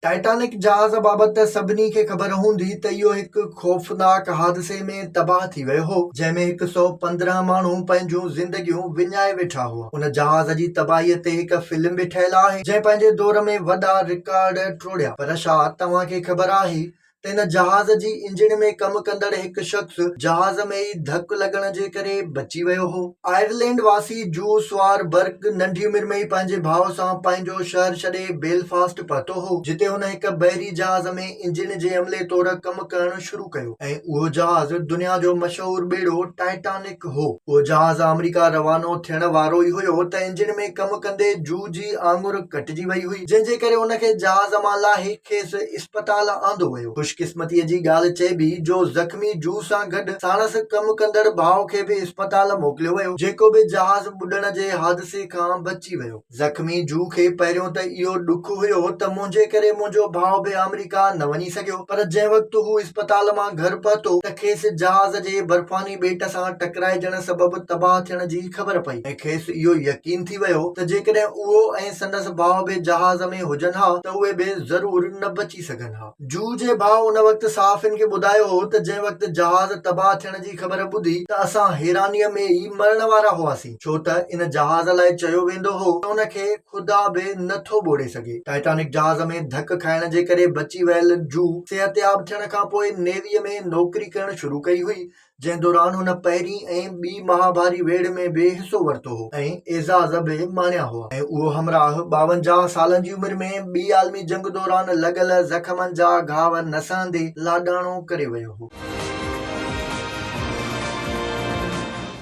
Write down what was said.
Titanic جهاز بابت ته سڀني کي خبر هوندي ته اهو هڪ خوفناڪ حادثي ۾ تباهه ٿي ويو هو، جنهن ۾ هڪ سؤ پندرهن ماڻهو پنهنجون زندگيون وڃائي ويٺا هئا. ان جهاز جي تباهيء تي هڪ فلم به ٺهيل آهي، جنهن پنهنجي دور ۾ وڏا رڪارڊ ٽوڙيا. پر ڇا توهان کي خبر آهي ته ان جهاز جي انجڻ ۾ ڪم ڪندڙ هڪ شخص جهاز ۾ ئي ڌڪ لڳڻ جي ڪري بچي ويو هو. آئرلينڊ واسي جو سوار برڪ ننڍي عمر ۾ ئي پنهنجي ڀاء سان پنهنجو شهر ڇڏي بيلفاسٽ پهتو هو، جتي هن هڪ بحري جهاز ۾ انجڻ جي عملي طور ڪم ڪرڻ شروع ڪيو ۽ اهو جهاز دنيا جو مشهور ٻيڙو ٽائٽانڪ مالڪ هو. اهو جهاز آمريڪا روانو ٿيڻ وارو ئي هيو ته انجڻ ۾ ڪم ڪندي جوء جي آڱر ڪٽجي وئي هئي، جنهن جي ڪري ان کي جهاز مان لاهي کيس اسپتال آندو ويو. خوش قسمتيء جي ڳالهه چئبي جو زخمي جوء سان گڏ ساڻس ڪم ڪندڙ ڀاء کي به اسپتال موڪليو ويو، جيڪو به جهاز ٻڏڻ جي حادثي کان بچي ويو. زخمي جوء کي پهريون ته اهو ڏک هيو ته منهنجي ڪري منهنجو ڀاء به آمريڪا نه وڃي سگهيو، پر جنهن وقت هو اسپتال مان گهر پهتو ته کيس جهاز جي برفاني ٻيٽ سان ٽڪرائجڻ سبب تباهه ٿيڻ جي خبر پئي ۽ کيس اهو يقين ٿي ويو ته جيڪڏهن اهو ۽ سندس ڀاء به جهاز ۾ هجن ها ته اهي به ضرور نه بچي سگهن ها. جوء جي ڀاء ان وقت صحافين کي ٻڌايو هو ته جنهن وقت جهاز تباهه ٿيڻ جي خبر ٻڌي ته اسان حيرانيء ۾ ئي مرڻ وارا هئاسين. ڇو ته ان جهاز لاء چيو ويندو هو ته ان کي خدا به نه ٿو ٻوڙي سگهي. ٽائٽانڪ جهاز ۾ ڌڪ کائڻ جي ڪري بچي ويل جو صحتياب ٿيڻ کان پوء نيويء ۾ نوڪري ڪرڻ شروع ڪئي هئي، جنهن دوران هن پهرين ۽ ٻي مهاڀاري ويڙهه ۾ به حصو ورتو هو ۽ اعزاز به ماڻيا هئا ۽ اهو همراهه ٻاونجاهه سالن جي عمر ۾ ٻي عالمي جنگ دوران لڳل زخمن جا گهاء نه سهندي لاڏاڻو ڪري ويو هو.